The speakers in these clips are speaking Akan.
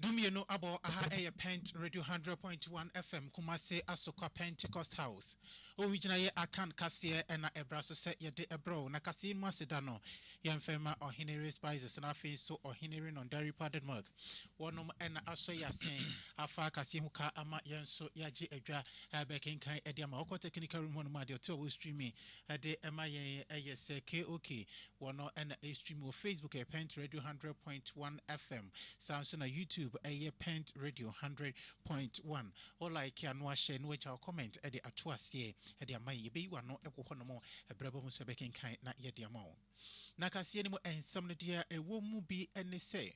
Dumienu abɔ aha ɛyɛ Pent Radio 100.1 FM Kumase Asokwa Pentecost House. Owi gyina yɛ akan kaseɛ ɛna ɛbra so sɛ yɛde ɛbrɛw na kaseɛ mu aseda no yɛmfɛ ma Ɔhene Respices na afei nso Ɔhene Renon Daripa Denmark Wɔnom na asɔ yɛ ase afa kaseɛ ho ka ama yɛn nso yɛagye adwa bɛkenkan de ama. Wokɔ technical room hɔnom a, deɛ ɔte a ɔwɔ streaming de ma yɛn yɛ sɛ KOK. Wɔno na ɛstream wɔ Facebook ɛyɛ Pent Radio Hundred Point One FM. Saa nso na YouTube ɛyɛ Pent Radio Hundred Point One. Wo like a na wahyɛ na wagya wo comment de ato aseɛ de ama yɛn. Yɛbɛyi w'ano wɔ hɔnom berɛ aba mu nso bɛkenkan na yɛde ama wo. Ná kaseɛ no mu nsɛm no deɛ ɛwɔ mu bi ne sɛ,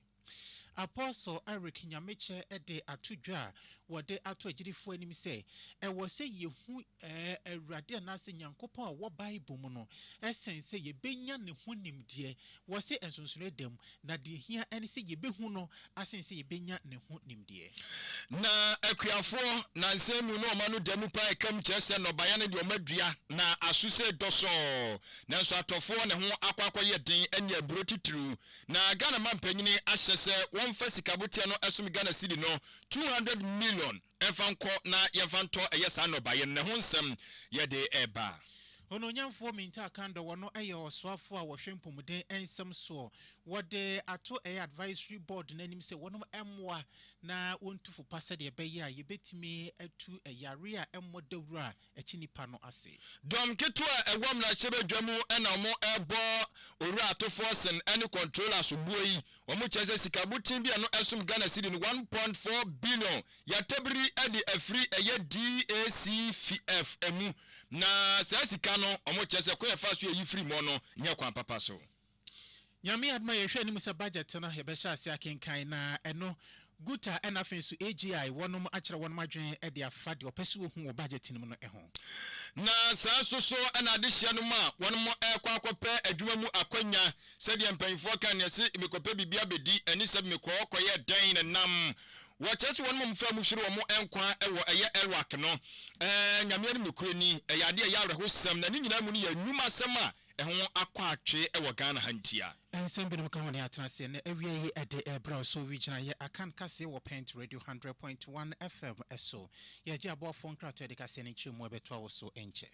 Apostle Eric Nyamekyɛ de ato dwa a wɔde ato agyidifoɔ anim sɛ, Ɛwɔ sɛ yɛhu Awurade anaasɛ Nyankopɔn a ɔwɔ Bible mu no sen sɛ yɛbɛnya ne ho nimdeɛ. Wɔse nsonsonoeɛ da mu Na deɛ ɛhia ne sɛ yɛbɛhu no asene sɛ yɛbɛnya ne ho nimdeɛ. Na akuafoɔ, nansa mu, ne ɔma no da mu paa ɛka mu kyerɛ sɛ nnɔbaeɛ ne deɛ ɔma dua, na aso sei dɔ sɔɔ. Nanso atɔfoɔ ne ho akɔ akɔyɛ den anya aburo titiriw. Na Ghana mampanyini ahyɛ sɛ wɔmfa sikaboteɛ no ɛsom Ghana cedi no two hundred million ɛmfa nkɔ na yɛmfa ntɔ ɛyɛ saa nnɔbaeɛ no, na ɛho nsɛm yɛde reba. Onuonyamfoɔ Minter Kandor wɔno yɛ ɔsoafoɔ a wɔhwɛ mpomuden nsɛm soɔ. Wɔde ato ɛyɛ advisory board no anim sɛ wɔnom mmoa na wɔntu fo pa sɛdeɛ ɛbɛyɛ a yɛbɛtumi atu ɛyare a ɛmmɔ dawuro a ɛkye nnipa no ase. Dɔm ketewa a ɛwɔ mmarahyɛbadwa mu na wɔrebɔ Owura Atofoɔsen ne Controller soboɔ yi. Wɔkyerɛ sɛ sika boten bi a ɛno ɛsom Ghana cedi no one point four billion Yɛatabiri de afiri ɛyɛ DACFF mu na saa sika no ɔmo kyerɛ sɛ kwan a yɛfa so yɛ yi firi mɔ no nyɛ kwan papa so. Nyame adom a yɛhwɛ anim sɛ budget no yɛbɛhyɛ aseɛ akenkan na ɛno Guta ɛna afei nso AGI wɔnom akyerɛ wɔnom adwene de afa deɛ ɔpɛ sɛ ɔhu wɔ budget no mu no ho. Na saa nso so ɛna adehyeɛ no mu a wɔnom ɛrekɔ akɔpɛ adwuma mu akwanya Sɛdeɛ mpanyinfoɔ ka neɛ se mekɔpɛ biribi abɛdi ɛne sɛ mekɔɔ kɔyɛɛ dɛn na nam wɔ kyerɛ sɛ wɔnom a wɔfaa mu hwere wɔn nkwa wɔ ɛyɛ Iraq no ɛɛ Nyame anim nokorɛni ɛyɛ adeɛ ɛyɛ awerɛhosɛm na ne nyinaa mu no yɛ nnwuma asɛm a ɛho akɔ atwe wɔ Ghana ha ntia. Nsɛm binom ka ho ne atena aseɛ na awia yi ɛde ɛɛbrɛ wo so wi gyinaeɛ akan kaseɛ wɔ Pent Radio hundred point one FM so yɛgye aboafoɔ nkratoɔ yɛde kaseɛ no nkyerɛmu ɛbɛtoa wo so nkyɛ.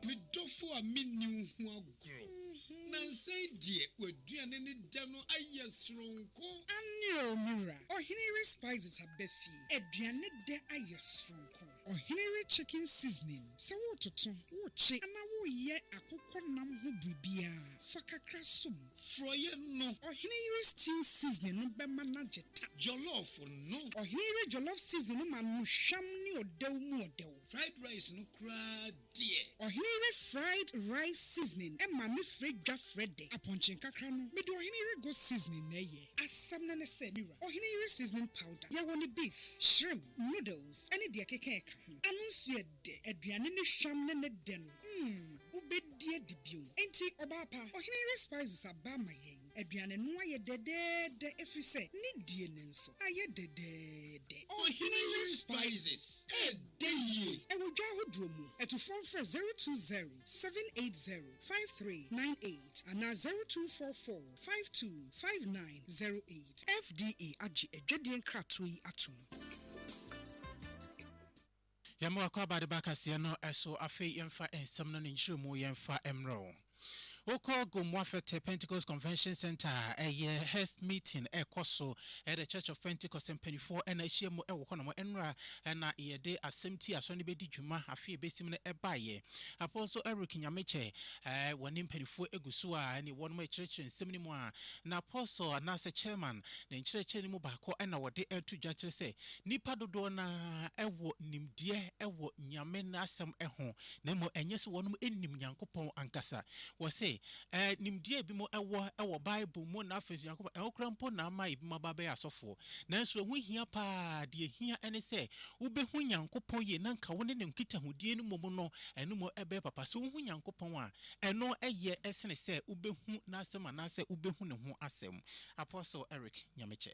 Me dɔfo a minni wo ho agorɔ. Nnansa yi deɛ, w'aduane ne dɛ no ayɛ soronko. Aane oo, me wura. Ɔhene yere spices aba fie. Aduane dɛ ayɛ soronko. Ɔhene yere chicken seasoning, sɛ woretoto, worekye anaa woreyɛ akokɔ nam ho biribiara, fa kakra som. Forɔeɛ no. Ɔhene yere stew seasoning no bɛma no agye ta. Jollof no. Ɔhene yere jollof seasoning no ma no hwam ne ɔdɛw mu ɔdɛw. Fried rice no koraa deɛ. Ɔheere fried rice seasoning ma me frɛ dwa frɛ dɛ. Apɔnkye nkakra no mede ɔhene yere go seasoning na ɛyɛ. Asɛm no ne sɛ me wura, ɔhene yere seasoning powder, yɛwɔ no beef, shrimp, noodles ne deɛ ɛkeka ɛka ho. Ano nso yɛ dɛ, aduane ne hwam ne ne dɛ no, mm, wobɛdi adi bio. Enti ɔbaa pa, ɔhene yere spices aba ama yɛn. Aduane no ayɛ dɛdɛɛdɛ ɛfiri sɛ ne die no nso ayɛ dɛdɛɛdɛ. Ɔhene Yere Spices ɛdɛ yie. Ɛwɔ dwa ahodoɔ mu. Atufoɔ mfrɛ zero two zero seven eight zero five three nine eight anaa zero two four four five two five nine zero eight. FDA agye adwadie nkratoɔ yi atom. Yɛma w'akwaaba ade ba kaseɛ no so, afei yɛmfa nsɛm no ne nkyerɛmu yɛmfa mmerɛ wo. Wokɔ Gomoa Fete Pentecost Convention Centre a, ɛyɛ hɛ meeting ɛrekɔ so, ɛyɛ The Church of Pentecost, mpaninfoɔ na ahyia mu wɔ hɔ nom. Nnora na yɛde asɛm ti a asɔre no bɛdi dwuma afe a ɛbɛsim no baeɛ. Apostle Eric Nyamekyɛ, wɔne mpaninfoɔ gu so a ɛne wɔnom rekyerɛkyerɛ nsɛm no mu a, na Apostle anaasɛ Chairman ne nkyerɛkyerɛ no mu baako na wɔde to dwa kyerɛ sɛ, Nnipa dodoɔ no ara wɔ nimdeɛ wɔ Nyame n'asɛm ho, na mmom ɛnyɛ sɛ wɔnom nim Nyankopɔn ankasa. Wɔse, Ɛɛ, nimdeɛ a binom wɔ wɔ Bible mu na afei nso Nyankopɔn, ɛno koraa mpo na ama binom aba abɛyɛ asɔfoɔ. Nanso ɛho hia pa ara, deɛ ɛhia ne sɛ wobɛhu Nyankopɔn yie na anka wo ne no nkitahodie no mmom no, ɛno mmom ɛbɛyɛ papa. Sɛ wohu Nyankopɔn a, ɛno yɛ sene sɛ wobɛhu n'asɛm anaasɛ wobɛhu ne ho asɛm. Apostle Eric Nyamekyɛ.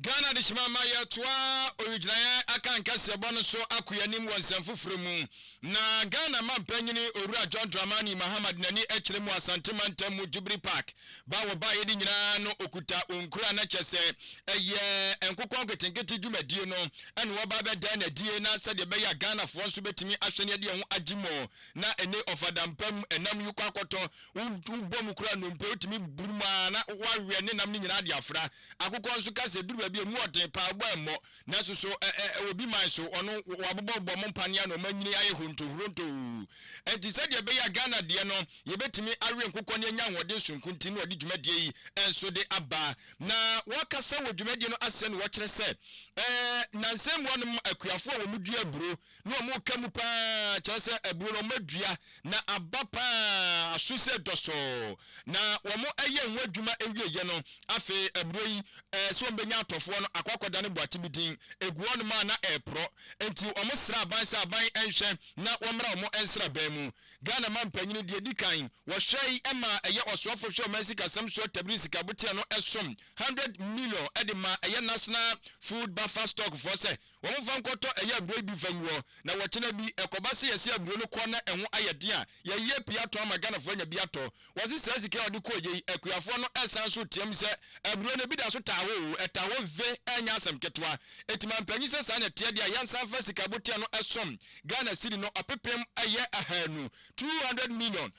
Ghana Adehyema ama yɛatoa owigyinaeɛ akankaseɛbɔ no so ako yɛn anim wɔ nsɛm foforɔ mu, na Ghana Mampanyini Owura John Dramani Mahama de n'ani kyerɛ mu Asante Mantam mu Jubilee Park ba a wɔbaeɛ no nyinaa no ɔkuta ɔnkura na kyerɛ sɛ ɛyɛ nkokɔ nketenkete dwumadie no na wɔba abɛda no adie na sɛdeɛ ɛbɛyɛ a Ghanafoɔ nso bɛtumi ahwɛ no de ho agye mu na ɛne ɔfadampam ɛnam yi kɔ akɔtɔ Wobɔ mu koraa nnompe a, wotumi burum ara na wɔawe ne nam no nyinaa de afra. Akokɔ nso ka sɛ eduru baabi a, emu wɔ den paa, ɔbɔ remmɔ. Nanso so ɛwɔ obi man so? Ɔno, wɔabobɔbobɔ mo mpanea na wɔanyini ayɛ horontohorontoo. Enti sɛdeɛ ɛbɛyɛ a Ghana deɛ no yɛbɛtumi awe nkokɔ na yɛanya ahoɔden sononko nti na wɔde dwumadie yi nso de aba. Na wɔkasa wɔ dwumadie no aseɛ no, wɔkyerɛ sɛ nnansa yi mmoa nom akuafoɔ a wɔdua aburo na wɔka mu pa ara, kyerɛ sɛ, aborɔnoma dua, na aba pa ara, aso sɛ dɔsɔɔ, na wɔayɛ ho adwuma awieeɛ no, afei aburoo yi, ɛɛ, sɛ wɔbɛnya atɔfoɔ no, akɔ akɔdane boate bi din, ɛgu hɔnom a na ɛreporɔ, enti wɔsrɛ aban sɛ aban nhwɛ na wɔmmra wɔn nsraban mu. Ghana mampanyini, deɛ ɛdi kan, wɔhwɛe maa ɛyɛ ɔsoafo hwɛ ɔman sikasɛm soɔ Tabiri Sikaboteɛ no som hundred million de maa ɛyɛ National Food Buffer Stock foɔ sɛ Wɔfa nkɔtɔ ɛyɛ aburo yi bi fa nguɔ na wɔkyena bi ɛkɔba se yɛse aburo no kɔ na ɛho ayɛ den a yɛyɛ pii atɔn ama Ghanafoɔ anya bi atɔ. Wɔse saa sika a wɔde kɔɔyɛ yi akuafoɔ no ɛsan so team sɛ aburo no ebi da so taa hɔ oo ɛtaa hɔ ve ɛnyɛ asɛm ketewa enti mampanyin sɛ saa na ɛteɛ deɛ a yɛnsan fa sika abotea no ɛsom Ghana cedi no ɔpepem ɛyɛ ahaanu, two hundred million,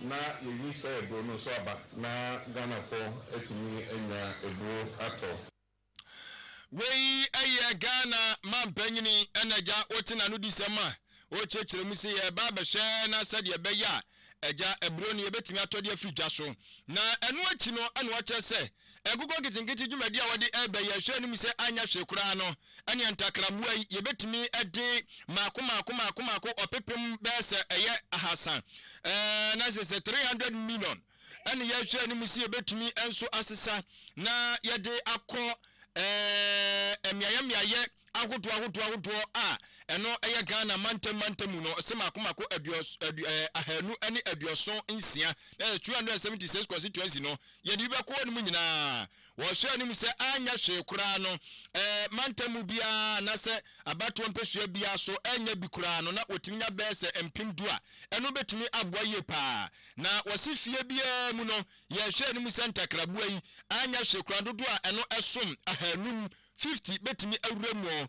Na yɛyi saa aburo no nso aba na Ghanafoɔ atumi anya aburo atɔ. Wei yɛ Ghana manpanyini na agya wote n'anodisɛm a ɔrekyerɛkyerɛ mu se yɛreba abɛhwɛ na sɛdeɛ ɛbɛyɛ a agya aburo no yɛbɛtumi atɔ de afiri dwa so. Na ɛno akyi no na wakyerɛ sɛ Nkokɔ nketenkete dwumadi a wɔde reba yi, ɛhwɛ anim sɛ anyɛ hwee koraa no, ɛnneɛ ntakrammoa yi, yɛbɛtumi de mmaako mmaako mmaako mmaako ɔpepem bɛyɛ sɛ ɛyɛ ahasa, ɛɛ, na sɛ sɛ 300 million ɛne yɛhwɛ anim sɛ yɛbɛtumi nso asesa na yɛde akɔ ɛɛ, mmeaeɛ mmeaeɛ ahodoɔ ahodoɔ ahodoɔ a ɛno yɛ Ghana mantam mantam mu no, ɔsɛ mmaako mmaako aduos, adu, ɛɛ, ahanu ne aduoson nsia, na yɛ 276 constituency no, Yɛde bi bɛkɔ hɔnom nyinaa. Wɔhwɛɛ anim sɛ anyɛ hwee koraa no, ɛɛ, mantam mu biara anaasɛ abatoɔ mpesua biara so annya bi koraa no, na wɔtumi nya bɛyɛ sɛ mpem du a ɛno bɛtumi aboa yie pa ara. Na wɔse fie biara mu no, yɛhwɛɛ anim sɛ ntakraboa yi, anyɛ hwee koraa, dodoɔ a ɛno som ahanum, 50, bɛtumi awura mu.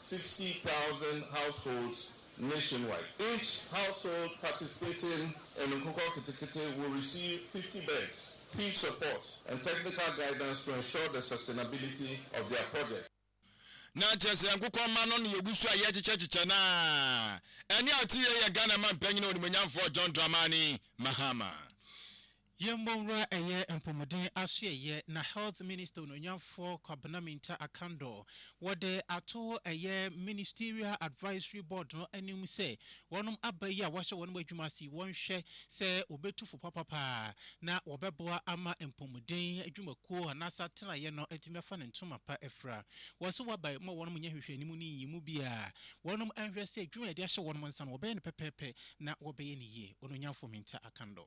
sixty thousand households nationwide. Each household participating in Nkokɔ Kitikiti will receive fifty beds, feed support and technical guidance to ensure the sustainability of their project. Na kyerɛ sɛ nkokɔ mma no ne yɛgu so a yɛrekyekyɛkyekyɛ no a ɛnne a ɔte yei yɛ Ghana manpanyin onimuonyamfoɔ John Dramani Mahama. Yɛmmɔ nwura ɛyɛ mpɔmuden asoɛeɛ na Health Minister Onuonyamfoɔ Kwabena Mintah Akandoh wɔde ato ɛyɛ Ministerial Advisory Board no anim sɛ wɔnom aba yi a wɔahyɛ wɔnom adwuma ase yi wɔnhwɛ sɛ wɔbɛtu fo papapa na wɔbɛboa ama mpɔmuden adwumakuo anaasɛ atenaeɛ no atumi afa ne ntoma pa afira wɔ so wɔaba yi ma wɔnom nyɛ nhwehwɛnimu ne nyiyimu biara wɔnom nhwɛ sɛ adwuma a yɛde ahyɛ wɔnom nsa no wɔbɛyɛ no pɛpɛɛpɛ na wɔbɛyɛ no yie Onuonyamfoɔ Mintah Akandoh.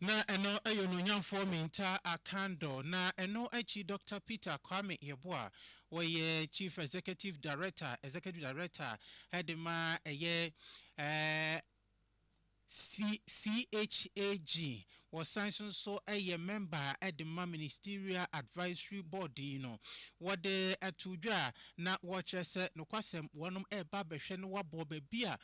Na ɛno yɛ onuonyamfoɔ Minta Akandor, na ɛno akyi Dɔkta Peter Kwame Yeboah, ɔyɛ Chief Executive Director, Executive Director, de ma ɛyɛ CHAG. Wɔsan nso nso yɛ mɛmba de ma Ministerial Advisory Board yi no. Wɔde too dwa na wɔrekyerɛ sɛ nokwasɛm wɔnom reba abɛhwɛ no wɔabɔ baabi a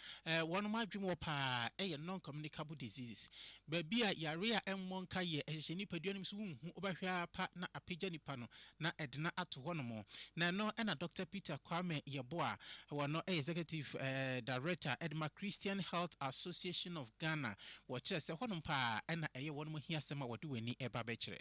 wɔnom adwene wɔ paa yɛ non-communicable diseases, baabi a yare a ɛmmɔ nka yɛ ɛhyehyɛ nipadua no mu so wonhu wobɛhwɛ ara pa na apagya nipa no na ɛdena ato hɔnom na ɛno na Dɔkta Peter Kwame Yeboah wɔ no yɛ Executive Director de ma Christian Health Association of Ghana wɔkyerɛ sɛ hɔnom paa na ɛyɛ wɔnom ahiasɛm a wɔde wɔn ani reba abɛkyerɛ.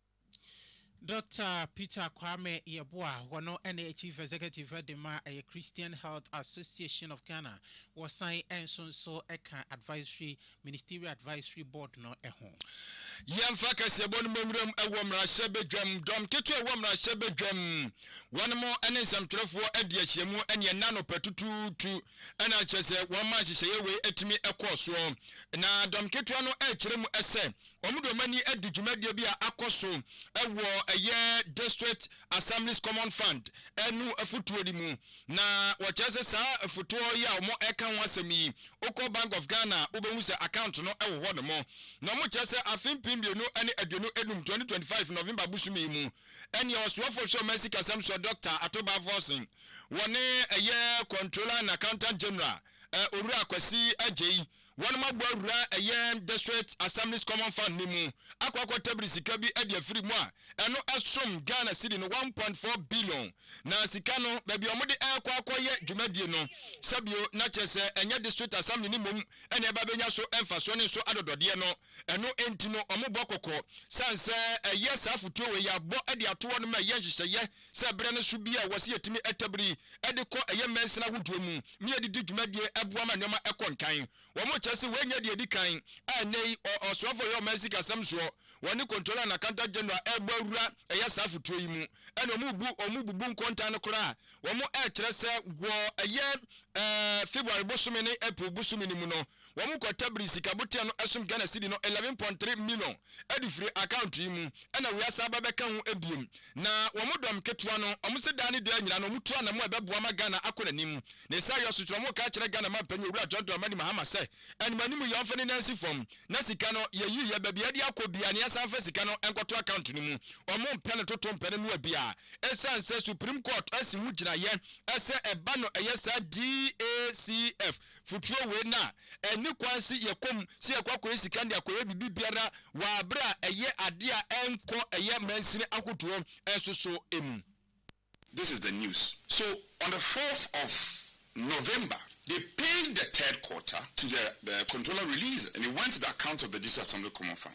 Doctor Peter Kwame Yeboah, wɔno ne Chief Executive de ma ɛyɛ Christian Health Association of Ghana, wɔsan nso nso ka Advisory, Ministerial Advisory Board no ho. Yɛmfa kaseɛbɔ no mɛnwuram wɔ mmarahyɛ badwam, dɔm ketewa ɛwɔ mmarahyɛ badwam, wɔnom ne nsɛmtwerɛfoɔ adi ahyiamu ne ɛnɛ anɔpa tutuutu na kyerɛ sɛ wɔma nhyehyɛeɛ wei atumi kɔɔ soɔ, na dɔm ketewa no ɛkyerɛ mu sɛ Wɔde wɔn ani adi dwumadie bi a akɔ so wɔ ɛyɛ District Assemblies Common Fund no afotuo no mu. Na wɔkyerɛ sɛ saa afotuo yi a wɔreka ho asɛm yi, wokɔ Bank of Ghana a, wobɛhu sɛ account no wɔ hɔ nom. Na wɔkyerɛ sɛ afe mpem mmienu ne aduonu nnum, 2025 November bosome yi mu, ɛneɛ Ɔsoafoɔ hwɛ ɔman sikasɛm soɔ Doctor Ato Balfourson, wɔne ɛyɛ Controller and Accountant General Owura Kwasi Adjei Wɔabɔ awura ɛyɛ District Assemblies Common Fund no mu akɔ akɔ tabiri sika bi de afiri mu a ɛno som Ghana Cedi no one point four billion. Na sika no, baabi a wɔde rekɔ akɔyɛ dwumadie no, sɛ bio na kyerɛ sɛ ɛnyɛ District Assembly no mmom na ɛba bɛnya so mfasoɔ ne so adɔdɔdeɛ no. Ɛno nti no wɔbɔ kɔkɔ sane sɛ ɛyɛ saa afotuo wei yɛabɔ de ato hɔ no ma ɛyɛ nhyehyɛeɛ sɛ berɛ no so bi a wɔse yɛtumi tabiri de kɔ ɛyɛ mansin ahodoɔ mu na yɛde di dwumadie boa ma nneɛma kɔ nkan. Wɔkyerɛ sɛ wei nyɛ deɛ ɛdi kan a ɛnnɛ yi ɔ ɔsoafoɔ a ɔyɛ ɔman sikasɛm soɔ wɔ ne Comptroller and Accountant General rebɔ awura ɛyɛ saa afotuo yi mu ɛna wɔbu wɔn bubu nkontaa no koraa a wɔkyerɛ sɛ wɔ ɛyɛ ɛɛ February bosome ne April bosome no mu no Wɔn kwata biri sika boteɛ no ɛsom Ghana cedi no eleven point three million ɛde firi account yi mu ɛna wei asan aba bɛka ho ɛbiem na wɔn dɔm ketewa no wɔn se daa ne daa nyinaa no wɔn tu anamo a ɛbɛboa ma Ghana akɔ n'anim ne saa yɔ so kyerɛ wɔn ka kyerɛ Ghana manpanyin Owura John Dramani Mahama sɛ anim anim yɛ ɔmfa ne nan si fam na sika no yɛ yi yɛ baabi ɛde akɔ biaa ne asan fa sika no nkɔto account no mu wɔn mpɛ no toto mpɛ no noa biaa ɛsan sɛ Supreme Court asi ho gyina yɛ ɛsɛ ɛba no ɛyɛ saa DACF Futuro wei no a, ɛnni kwan se yɛkɔ mu se yɛkɔ akɔyɛ sika de akɔyɛ biribi biara wɔ abere a ɛyɛ adeɛ a ɛnkɔ ɛyɛ mansini ahodoɔ nso so mu. This is the news so on the fourth of November they paid the third quarter to the the controller release and it went to the account of the District Assembly Common Fund.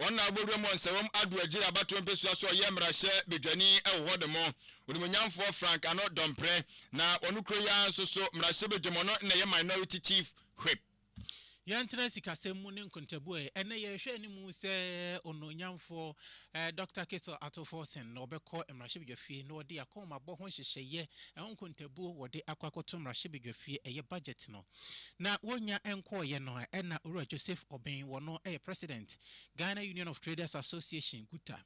Ɔnna abɔdwam wɔ nsawam Adwo agyiri abatoɔ mpesua so ɔyɛ mmarahyɛ badwani wɔ hɔ de mo onimuonyamfoɔ Frank Ano Dɔmprɛ na ɔno kuro yi ara nso so mmarahyɛ badwam ɔno na ɛyɛ minority chief whip. Yɛntena sikasɛm mu ne nkontabuo ɛ, ɛnnɛ yɛrehwɛ anim sɛ onuonyamfoɔ Dɔkta Cassel Ato Forson na ɔbɛkɔ mmarahyɛbadwafie na ɔde akɔnmabɔ ho nhyehyɛeɛ ho nkontabuo wɔde akɔ akɔto mmarahyɛbadwafie ɛyɛ budget no. Na wonnya nkɔɔeɛ no a ɛna Owura Joseph Obeng, wɔ no yɛ President, Ghana Union of Traders Association, GUTA,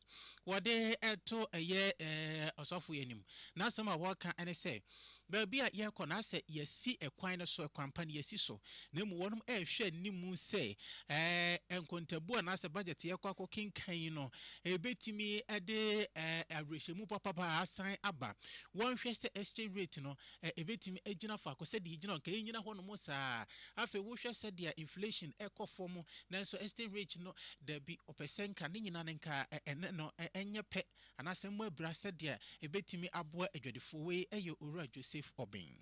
wɔde to ɛyɛ Ɔsɔfo yi anim. N'asɛm a wɔka ne sɛ, baabi a yɛrekɔ no asɛ yɛasi ɛkwan no so, ɛkwan pa no yɛasi so, na mmom wɔnom rehwɛ anim sɛ ɛɛ nkontabuo anaasɛ budget yɛkɔ akɔ kenkan yi no ɛbɛtumi de awerɛhyɛmu papa asan aba. Wɔnhwɛ sɛ exchange rate no a ebetumi agyina faako sɛdeɛ egyina anka ɛnnyina hɔnom saa. Afei wohwɛ sɛdeɛ inflation ɛkɔ fam nanso exchange rate no dabi ɔpɛ sɛ nka ne nyina no nka ɛne no ɛnyɛ pɛ anaasɛ mmɔ abira sɛdeɛ ɛbɛtumi aboa adwadifoɔ. Wei yɛ Owura Joseph Obeng.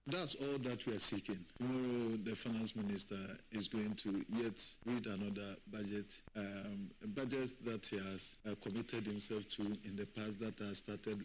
That's all that we are seeking, tomorrow the finance minister is going to yet read another budget, um budget that he has committed himself to in the past that has started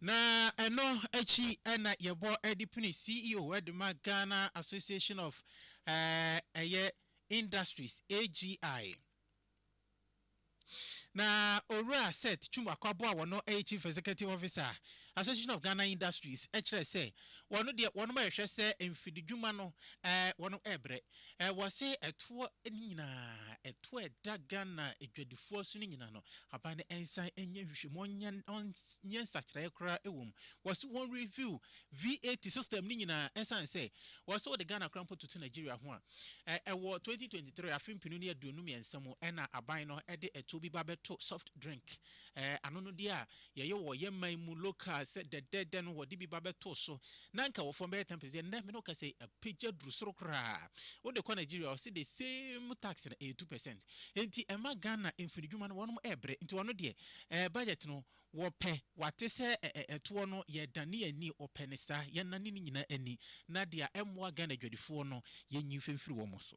Na ɛno akyi na yɛbɔ de pini CEO de ma Ghana Association of ɛyɛ Industries, AGI. Na Owura Seth Twum Akwabo a wɔno ɛyɛ Chief Executive Officer Association of Ghana Industries kyerɛ sɛ wɔno deɛ wɔnom ɛrehwɛ sɛ mfididwuma no wɔnom ɛrebrɛ. Wɔse ɛtoɔ no nyinaa, ɛtoɔ a ɛda Ghana adwadifoɔ so no nyinaa no, aban no nsan nyɛ nhwehwɛmu, ɔnyɛ nsakyeraeɛ koraa wɔ mu. Wɔse wɔn review VAT system no nyinaa ɛsiane sɛ wɔse wode Ghana koraa mpo toto Nigeria ho a, ɛwɔ 2023 afe mpenu ne aduonu mmiɛnsa mu na aban no de ɛtoɔ bi ba bɛto soft drink, anonodeɛ a yɛyɛ wɔ yɛn man mu local sɛ dɛdɛɛdɛ no wɔde bi ba bɛtoo so na nka wɔ fam bɛyɛ ten percent ɛnnɛ me ne wo kasa yi apagya aduru soro koraa wode kɔ Nigeria ɔse the same tax no ɛyɛ two percent nti ɛma Ghana mfinidwuma no wɔnom ɛɛbrɛ nti wɔno deɛ ɛɛ budget no wɔpɛ wate sɛ ɛɛ ɛtoɔ no yɛdane yɛn ani wɔpɛ no saa yɛnane ne nyinaa ani na deɛ ɛmmoa Ghana adwadifoɔ no yɛnyi mfimfiri wɔn so.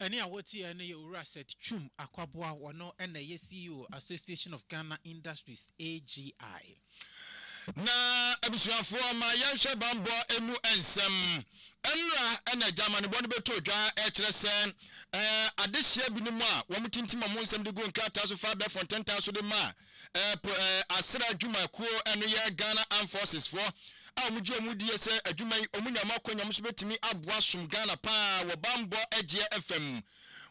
Ɛne a wɔtiaɛ no yɛ Owura Seth Twum Akwaboah, ɔno na ɛyɛ CEO Association of Ghana Industries, AGI. Na abusuafoɔ ma yɛnhwɛ banbɔ mu nsɛm. Nnora na agya amanebɔ no bɛtoo dwa rekyerɛ sɛ adehyeɛ binom a wɔtintim wɔn nsɛm de gu nkrataa so fa abɛɛfo ntentaa so de ma a Ɛpo Asra Adwuma Kuo, ɛno yɛ Ghana Armed Forces foɔ a wɔn gye wɔn die sɛ adwuma yi wɔn nya mu akwanya, wɔn nso bɛtumi aboa som Ghana paa wɔ banbɔ gyeɛ ɛfa mu.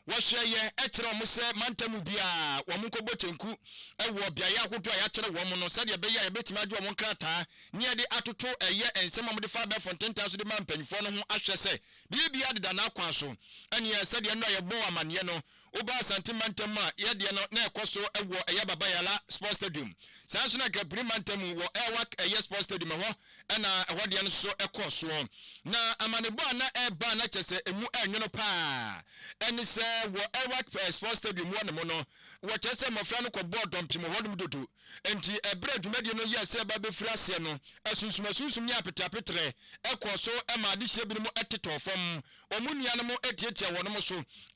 Wɔhwɛ yɛ kyerɛ wɔn sɛ mantam mu biara wɔn nkɔ bɔ kyenku wɔ beaeɛ ahodoɔ a yɛakyerɛ wɔn no sɛdeɛ ɛbɛyɛ a yɛbɛtumi agye wɔn nkrataa ne yɛde atoto ɛyɛ nsɛm a wɔde fa abɛɛfo ntentan so de ma mpanyinfoɔ no ho ahwɛ sɛ biribiara deda n'akwan so ɛneɛ sɛdeɛ nnora yɛbɔɔ amaneɛ no Woba Asante mantam mu a, yɛ deɛ no na ɛkɔ so wɔ ɛyɛ Baba Yala Sports Stadium. Saa nso na Nkaburi mantam mu wɔ Airwac ɛyɛ Sports Stadium ɛhɔ na ɛhɔ deɛ no so kɔɔ soɔ. Na amanebɔ a na ɛreba a na kyerɛ sɛ ɛmu ɛnwono pa ara ne sɛ wɔ Airwac Sports Stadium hɔ nom no, wɔkyerɛ sɛ mmɔfra no kɔbɔɔ dɔmpem wɔ hɔ nom dodo. Enti bere a dwumadi no yɛɛ sɛ ɛreba befiri aseɛ no, asunsumasunsum ne apeteapeterɛ kɔɔ so maa adehyeɛ binom tetɔɔ fam. Wɔn nuanom tiatiaa wɔnom so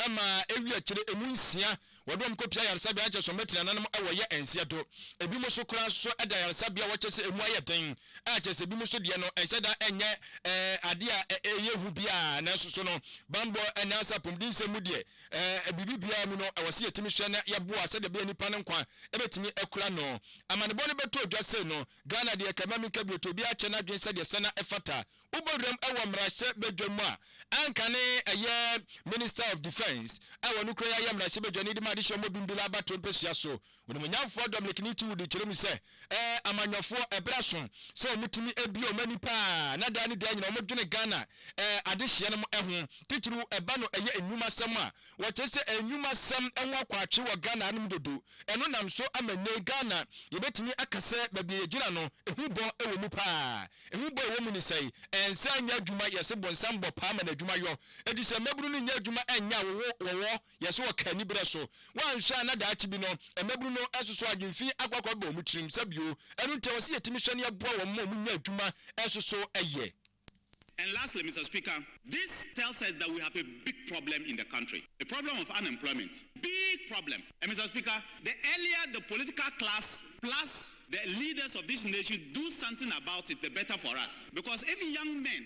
maa ɛwii akyire emu nsia wɔde wɔn kɔpia ayaresabea na kyerɛ sɛ wɔbɛtena nanom wɔ yɛ nseɛ do. Ebinom nso koraa nso da ayaresabea a wɔkyerɛ sɛ emu ayɛ den a kyerɛ sɛ ebinom nso deɛ no ɛnhyɛ da nyɛ adeɛ a ɛyɛ hu biara nanso so no banbɔ anaasɛ apɔmudensɛm mu deɛ Ɛɛ, biribi biara mu no, ɛwɔ sɛ yɛtumi hwɛ na yɛboa sɛdeɛ ɛbɛyɛ nnipa no nkwa bɛtumi akura no. Amanebɔ no bɛtɔ dwa sei no, Ghana deɛ, kɛmma menka bio, tɔ obiara akyɛ n'adwene sɛdeɛ ɛsɛ na ɛfata. Wobɔ wuram wɔ mmarahyɛ badwa mu a, anka ne ɛyɛ Minister of Defence a ɔno kura yi ayɛ mmarahyɛ badwani de ma adehyɛ ɔmɔ bimbila abatoɔ mpasua so. Onimuonyamfoɔ Dominiqueni ti Woody kyerɛ mu sɛ, Ɛɛ, amanyɔfoɔ, ɛberɛ aso sɛ wɔtumi bue wɔn ani pa ara, na daa ne daa nyinaa wɔdwene Ghana ɛɛ adehyeɛ no ho, titiriw ɛba no ɛyɛ nnwumasɛm a wɔkyerɛ sɛ ɛɛ nnwumasɛm ho akwaakye wɔ Ghana hanom dodo. Ɛno nam so ama nnɛyi Ghana yɛbɛtumi aka sɛ baabi a yɛgyina no, ehu bɔ wɔ mu pa ara. Ehu bɔ a ɛwɔ mu ne sɛn? Ɛnsa nyɛ adwuma, yɛse bonsam bɔ paa ma n'adwuma yɔ, enti sɛ mmabunu no nnya adwuma ɛnyɛ a wɔwɔ Yɛ sɛ wɔka anibere so. Woanhwɛ a na daakye bi no, mmabunu no nsoso adwene fi akɔ akɔba wɔn tirim sa bio. Ɛno nti, ɛwɔ sɛ yetumi hwɛ na yɛboa wɔn ma wɔnya adwuma nso so yɛ. And lastly, Mister Speaker, this tells us that we have a big problem in the country, the problem of unemployment, big problem. And Mister Speaker, the earlier the political class plus the leaders of this nation do something about it, the better for us. Because if young men.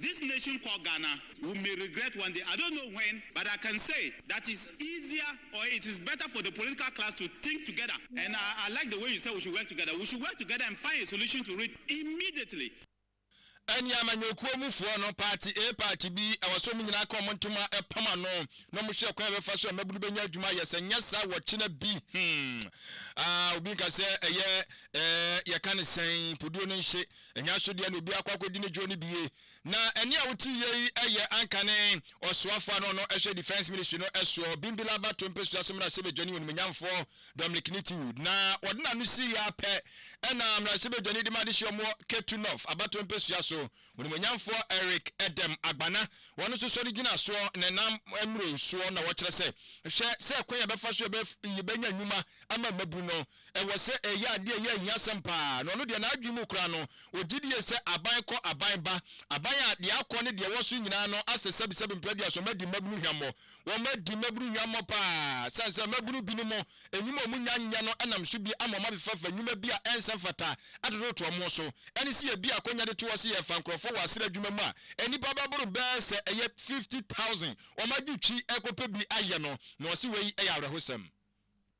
this nation called Ghana we may regret one day I don't know when but I can say that it's easier or it is better for the political class to think together and I I like the way you said we should work together we should work together and find a solution to it immediately. Ɛne amanyɔkuo mu foɔ no, party A party B, ɛwɔ sɛ ɔmo nyinaa ka ɔmo ntoma pam ano na ɔmo hwɛ kwan a ɛbɛfa so a mmabunu bɛnya adwuma ayɛ, sɛ nyɛ saa wɔkyena bi hmm ah obi nka sɛ ɛyɛ eh yɛka no sɛn, poduo no nhye Anya so deɛ na obi akɔ akɔdi ne dwoɔ no bi ye. Na ɛnne a wote yie yi yɛ ankane Ɔsoafoɔ a na ɔno hwɛ Defence Ministry no soɔ, Bimbilaba Tompesua so Mmarahyɛbadwani Onimuonyamfoɔ Dominic Nitiwud. Na wɔde n'ano siiɛ ara pɛ na Mmarahyɛbadwani de ma adehyeɛ ɔmoɔ Ketu North aba Tompesua so, Onimuonyamfoɔ Eric Edem Agbana, wɔn nso sɔre gyina soɔ na ɛnam mmrɛw soɔ na wɔkyerɛ sɛ, hwɛ sɛ kwan a yɛbɛfa so yɛbɛnya nnwuma ama mmabunu no. ɛwɔ sɛ ɛyɛ ade a ɛyɛ ahiasɛm paa, na ɔno deɛ n'adwene mu koraa no, ɔgye die sɛ aban kɔ aban ba, aban a deɛ akɔ ne deɛ ɛwɔ so nyinaa no asɛ sɛbesɛbe mprɛduaso, wɔadi mmabunu hwammɔ, wɔadi mmabunu hwammɔ paa, sane sɛ mmabunu binom nnwuma a wɔnnya nyɛ no nam so bi ama wɔabefɛfa nnwuma bi a ɛnsɛ mfata atototo wɔn so, ɛne sɛ yɛbue akwannya de to hɔ sɛ yɛrefa nkurɔfoɔ wɔ asra adwuma mu a nnipa bɛboro bɛɛ sɛ ɛyɛ fifty thousand, wɔagye twi rekɔpɛ bi ayɛ no, na ɔse wei yɛ awerɛhosɛm.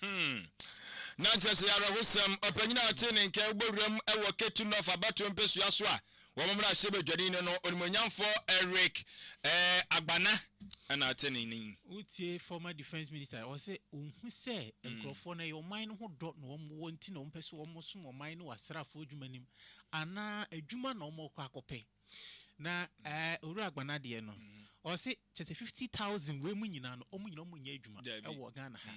Hmm. Na nkyɛ sɛ ɛyɛ awerɛhosɛm. Ɔpanyin a ɔtee ne nka wɔ wuram wɔ Ketu North abatoɔ mpesua so a wɔn mmarahyɛ badwani no no Onimuonyamfoɔ Eric eh, Agbana na ɔte ne nne yi. Wotie former defence minister a ɔse ɔhu sɛ nkurɔfoɔ no ɛyɛ ɔman no ho dɔ na wɔn wɔ nti na wɔn pɛ sɛ wɔn som ɔman no wɔ asraafoɔ adwuma no mu anaa adwuma na wɔn rekɔ akɔpɛ. Na ɛɛ Owura Agbana deɛ no, ɔse kyerɛ sɛ fifty thousand wei mu nyinaa no, wɔn nyinaa wɔnyɛ adwuma wɔ Ghana ha.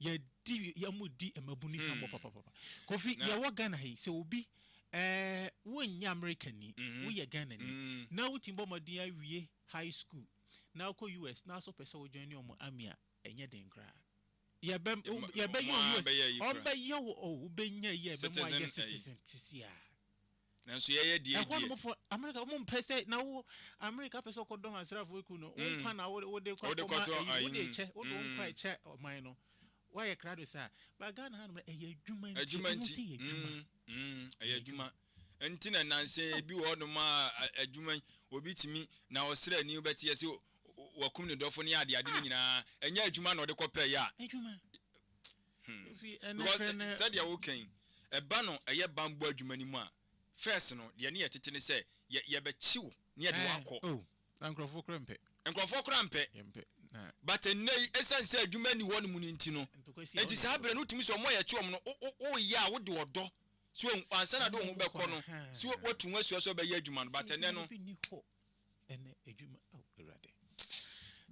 Yɛdi wɔredi mmabunu hwammɔ papapapa. Kofi, yɛwɔ Ghana ha yi, sɛ obi ɛɛ wonyɛ Amerikani, woyɛ Ghanani na wotumi bɔ mmɔden awie high school na wokɔ US na nso wopɛ sɛ wo joine wɔn army a, ɛnyɛ den koraa. Yɛbɛ yɛbɛyɛ wo US, wɔbɛyɛ wo, wobɛnya ayi a ɛbɛma woayɛ citizen seesei ara. Nanso yɛyɛ deɛ ɛdeɛ. Ɛhɔnom fo Amerika wɔn mpɛ sɛ na wo Amerika pɛ sɛ ɔkɔ dɔm asraafo eku no wɔn nkwa na wo de kɔ akɔma ɛyi wo de kyɛ wo de wɔn nkwa ɛkyɛ ɔman no wayɛ krado saa ba Ghana ha nom ɛyɛ adwuma nti adwuma nti ɛyɛ adwuma ɛyɛ adwuma nti na nanse ebi wɔ hɔnom a adwuma obi tumi na ɔsrɛ ni wobɛte yɛ sɛ wakum ne dɔfo ne ade ade ne nyinaa ɛnyɛ adwuma na ɔde kɔ pɛ yɛ a adwuma Because sɛdeɛ woka yi, ɛba no ɛyɛ banbɔ adwuma no mu a, first no, deɛ ne yɛ tete ne sɛ, yɛ yɛbɛkye wo na yɛde wo akɔ. Oh, na nkorɔfoɔ koraa mpɛ. Nkorɔfoɔ koraa mpɛ. Yɛmpɛ, na. But ɛnnɛ yi, ɛsiane sɛ adwuma nni hɔ nom no nti no, nti saa berɛ no wotumi sɛ wɔn a yɛkye wɔn no, wo, wo, woyɛ a wode ɔdɔ, so wahu, ansa na de wo ho bɛkɔ no, so watu ho asua sɛ wobɛyɛ adwuma no, but ɛnnɛ no. Ɛnɛ adwuma ao Awurade.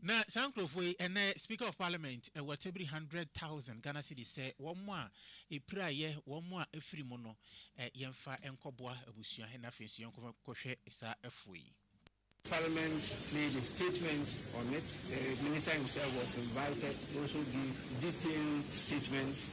Na saa nkurɔfoɔ yi, ɛnɛ Speaker of Parliament wɔ tebiri hundred thousand Ghana cedis sɛ wɔn a ɛpiraeɛ, wɔn a afiri mu no, yɛmfa nkɔboa abusua he na afei nso yɛnkɔhwɛ saa afoɔ yi. Parliament made a statement on it, the minister himself was invited to also give detailed statement.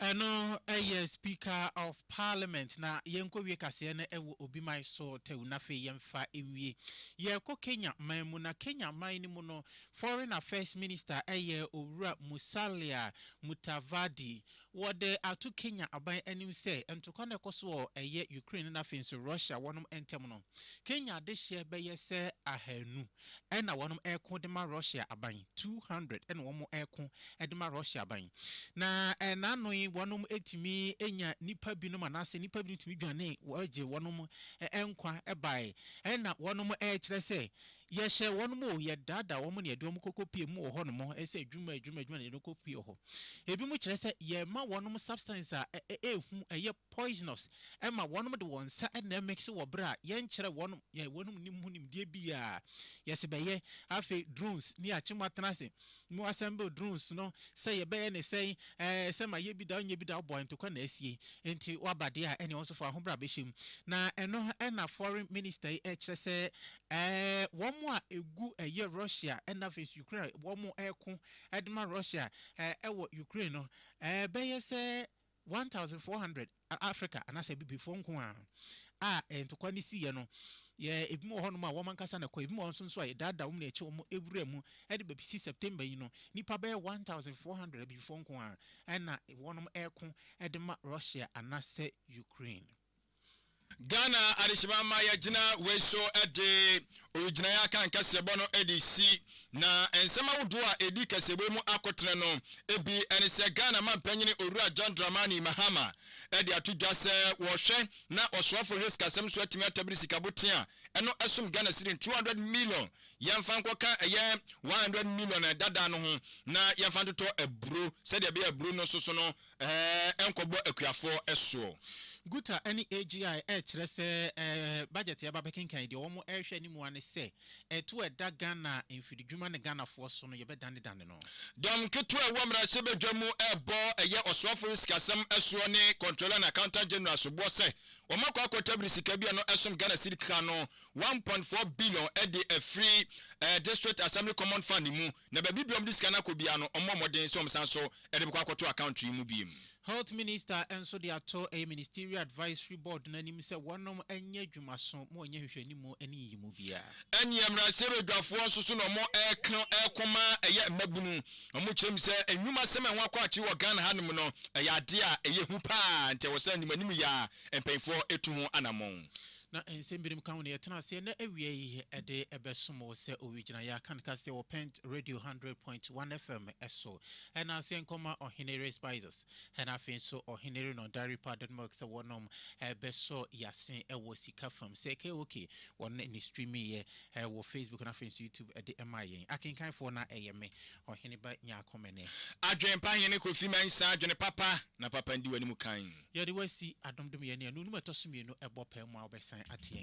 Ɛno yɛ speaker of parliament na yɛnkɔ wie kaseɛ no wɔ obi man so tɛw na afei yɛmfa nwie. Yɛkɔ Kenya man mu na Kenya man no mu no foreign affairs minister yɛ owura Musalia Mutavadi. Wɔde ato Kenya aban anim sɛ ntokwa na ɛkɔ so wɔ ɛyɛ Ukraine na afei nso Russia wɔnom ntɛm no Kenya dehyeɛ bɛyɛ sɛ ahanu. Ɛna wɔnom reko de ma Russia aban, two hundred ɛna wɔn reko de ma Russia aban. Na ɛnaano yi wɔnom tumi nya nipa binom anaasɛ nipa binom tumi dwane wɔgye wɔnom nkwa bae. Ɛna wɔnom rekyerɛ sɛ yɛhyɛ wɔnom o, yɛdaadaa wɔn na yɛde wɔn kɔkɔ pie mu wɔ hɔ nom sɛ adwuma adwuma adwuma na yɛde wɔn kɔ pie wɔ hɔ. Ebinom kyerɛ sɛ yɛma wɔnom substance a ɛyɛ hu ɛyɛ poisonous ma wɔnom de wɔn nsa na ɛmix wɔ bere a yɛnkyerɛ wɔnom yɛn wɔnom nim ho nimdeɛ biara. Yɛse bɛyɛ. Afei drones ne akye mo atena ase mo assemble drones no sɛ yɛbɛyɛ ne sɛn ɛɛ sɛ ma yɛ bi da ɔnyɛ bi da ɔbɔe ntokwa na asie nti waba deɛ a ɛneɛ wo nso fa wo ho bra bɛhyɛ mu na ɛno na foreign minister yi ɛkyerɛ sɛ ɛɛ wɔn a ɛgu ɛyɛ Russia na afei nso Ukraine a wɔn ɛko ɛdema Russia ɛɛ ɛwɔ Ukraine no ɛɛ bɛyɛ sɛ one thousand four hundred Africa anaasɛ Abibifoɔ nko ara a ntɔkwa no siiɛ no yɛ ebinom wɔ hɔnom a wɔn ankasa na ɛkɔ ebinom wɔ hɔ nso a yɛdaadaa wɔn na yɛkyɛ wɔn wuraa mu ɛde bɛsi September yi no nnipa bɛyɛ one thousand four hundred Abibifoɔ nko ara na wɔnom reko de ma Russia anaasɛ Ukraine. Ghana adehyema ma yɛgyina wei so de owigyinaeɛ akan kaseɛbɔ no de resi, na nsɛm ahodoɔ a ɛdi kaseɛbɔ yi mu akotene no bi ne sɛ Ghana mampanyini Owura John Dramani Mahama de ato dwa sɛ wɔhwɛ na ɔsoafo hwɛ sikasɛm so atumi atabiri sikaboten a ɛno ɛsom Ghana cedi 200 million yɛmfa nkɔka ɛyɛ 100 million ɛdada no ho na yɛmfa ntotɔ aburo sɛdeɛ ɛbɛyɛ aburo no soso no Ɛɛ nkɔbɔ akuafoɔ soɔ. Guta ne AGI rekyerɛ sɛ budget yɛba bɛkenkan yi deɛ wɔn rehwɛ anim ara ne sɛ ɛto a ɛda Ghana mfiridwuma ne Ghanafoɔ so no yɛbɛdanedane no. Dɔm nketewa a ɛwɔ mmarahyɛbadwa mu rebɔ ɛyɛ ɔsoafo no sikasɛm soɔ ne Controller and Accountant General soboɔ sɛ wɔakɔ akɔtabiri sika bi a ɛno ɛsom Ghana Cedi keka no one point four billion de afiri District Assembly Common Fund mu na baabi biara wɔde sika no akɔ biara no wɔmmɔ mmɔden sɛ wɔsan so de bɛkɔ akɔto account yi mu biom. Health Minister nso de ato ɛyɛ Ministerial Advisory Board no anim sɛ wɔnom nyɛ adwuma so ma wɔnyɛ nhwehwɛnimu ne nyiyimu biara. Ɛneɛ mmarahyɛbadwafoɔ nso so na wɔreko ma ɛyɛ mmabunu. Wɔkyerɛ mu sɛ nnwuma sɛm a ɛho akɔ akyere wɔ Ghana ha nom no ɛyɛ adeɛ a ɛyɛ hu paa nti ɛwɔ sɛ animanimu yɛ a mpaninfoɔ tu ho anamɔn. Na nsɛm binom ka ho na yɛtena aseɛ na awia yi de bɛsom wo sɛ owigyinaeɛ a kan ka sɛ wɔ Pent Radio Hundred Point One FM so. Ɛna aseɛ nkɔma Ɔheneyere Spices ɛna afei nso Ɔheneyere Non Dairy Powdered Milk sɛ wɔnom bɛsɔ yɛase wɔ sika fam. Sɛ KOK wɔn na ne streamiiɛ wɔ Facebook na afei nso YouTube de maa yɛn. Akenkanfoɔ no a ɛyɛ me, Ɔheneba Nyarko Mene. Adwene pa Hene Kofi Mensah Adwene papa na papa ndi w'anim kan. Yɛde wo asi adom dom yɛn ne anuonom a ɛtɔ so mmienu ɛbɔ pɛɛ mu a wobɛsan ate yɛn.